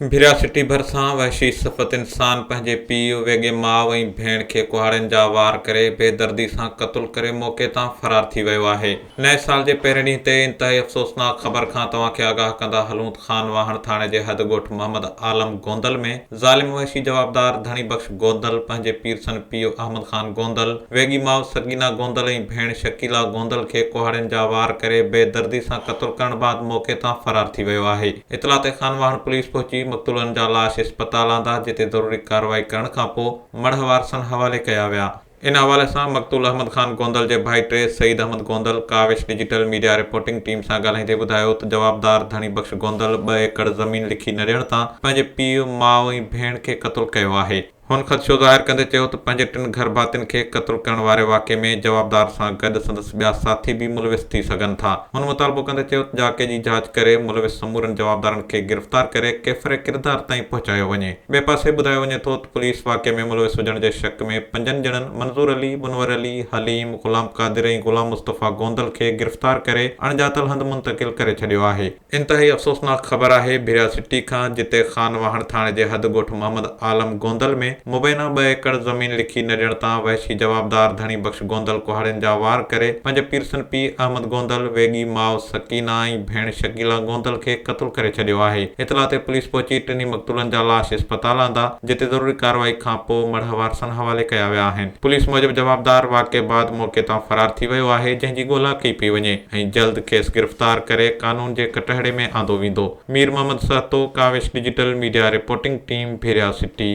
ڀريا city ڀرسان وحشي صفت انسان پنهنجي پيء، ويڳي ماء ۽ ڀيڻ کي ڪهاڙين جا وار ڪري بي دردي سان قتل ڪري موقعي تان فرار ٿي ويو آهي. نئين سال جي پهرين ڏينهن تي انتهائي افسوسناڪ خبر کان توهان کي آگاهه ڪندا هلون ته خان واهڻ ٿاڻي جي حد ڳوٺ محمد عالم گوندل ۾ ظالم وحشي جوابدار ڌڻي بخش گوندل پنهنجي پيرسن پيء احمد خان گوندل، ويڳي ماء سگينا گوندل ۽ ڀيڻ شڪيلا گوندل کي ڪهاڙين جا وار ڪري بي دردي سان قتل ڪرڻ بعد موقعي تان فرار ٿي ويو آهي. اطلاع تي خانواهڻ پوليس پهچي مقتولن جا لاش اسپتال آندا جتي ضروري ڪارروائي ڪرڻ کانپوء مڙهه وارثن حوالي ڪيا ويا. ان حوالي سان مقتول احمد خان گوندل جي ڀائٽي Saeed Ahmed Gondal Kawish digital media reporting team سان ڳالهائيندي ٻڌايو ته جوابدار ڌڻي بخش گوندل ٻه ايڪڙ زمين لکي نه ڏيڻ تان پنهنجي پيء، ماء ۽ ڀيڻ کي قتل ڪيو آهي. هن خدشو ظاهر ڪندي چيو ته پنهنجي ٽن گهر ڀاتين کي قتل ڪرڻ واري واقعي ۾ جوابدار سان گڏ سندس ٻيا ساٿي به ملوث ٿي سگهن ٿا. هن مطالبو ڪندي چيو ته جاکي جي جاچ ڪري ملوث سمورن جوابدارن کي گرفتار ڪري ڪيفر ڪردار تائين پهچايو وڃي. ٻئي پاسي ٻڌايو وڃي ٿو ته پوليس واقعي ۾ ملوث هجڻ جي شڪ ۾ پنجن ڄڻن منظور علي، منور علي، حليم، غلام قادر ۽ غلام مصطفيٰ گوندل کي گرفتار ڪري اڻ ڄاتل هنڌ منتقل ڪري ڇڏيو آهي. انتهائي افسوسناڪ خبر آهي ڀيرا سٽي کان جتي خان واهڻ ٿاڻي جي حد ڳوٺ محمد عالم گوندل ۾ مبينا ٻه ايڪڙ زمين لکي نه ڏيڻ تان وحشي جوابدار ڌڻي بخش گوندل ڪهاڙين جا وار ڪري پنج پيرسن پيء احمد گوندل، ويڳي ماء سڪينه ۽ ڀيڻ شڪيلا گوندل کي قتل ڪري ڇڏيو آهي. اطلاع تي پوليس پهچي ٽنهي مقتولن جا لاش اسپتال آندا. جتي ضروري ڪارروائي کانپوء مڙهه وارثن حوالي ڪيا ويا آهن. پوليس موجب جوابدار واقعي بعد موقعي تان فرار ٿي ويو آهي جنهن جي ڳولا ڪئي پئي وڃي ۽ جلد کيس گرفتار ڪري قانون جي ڪٽهڙي ۾ آندو ويندو. Mir Muhammad Sahito, Kawish digital media reporting team, Bhiria city.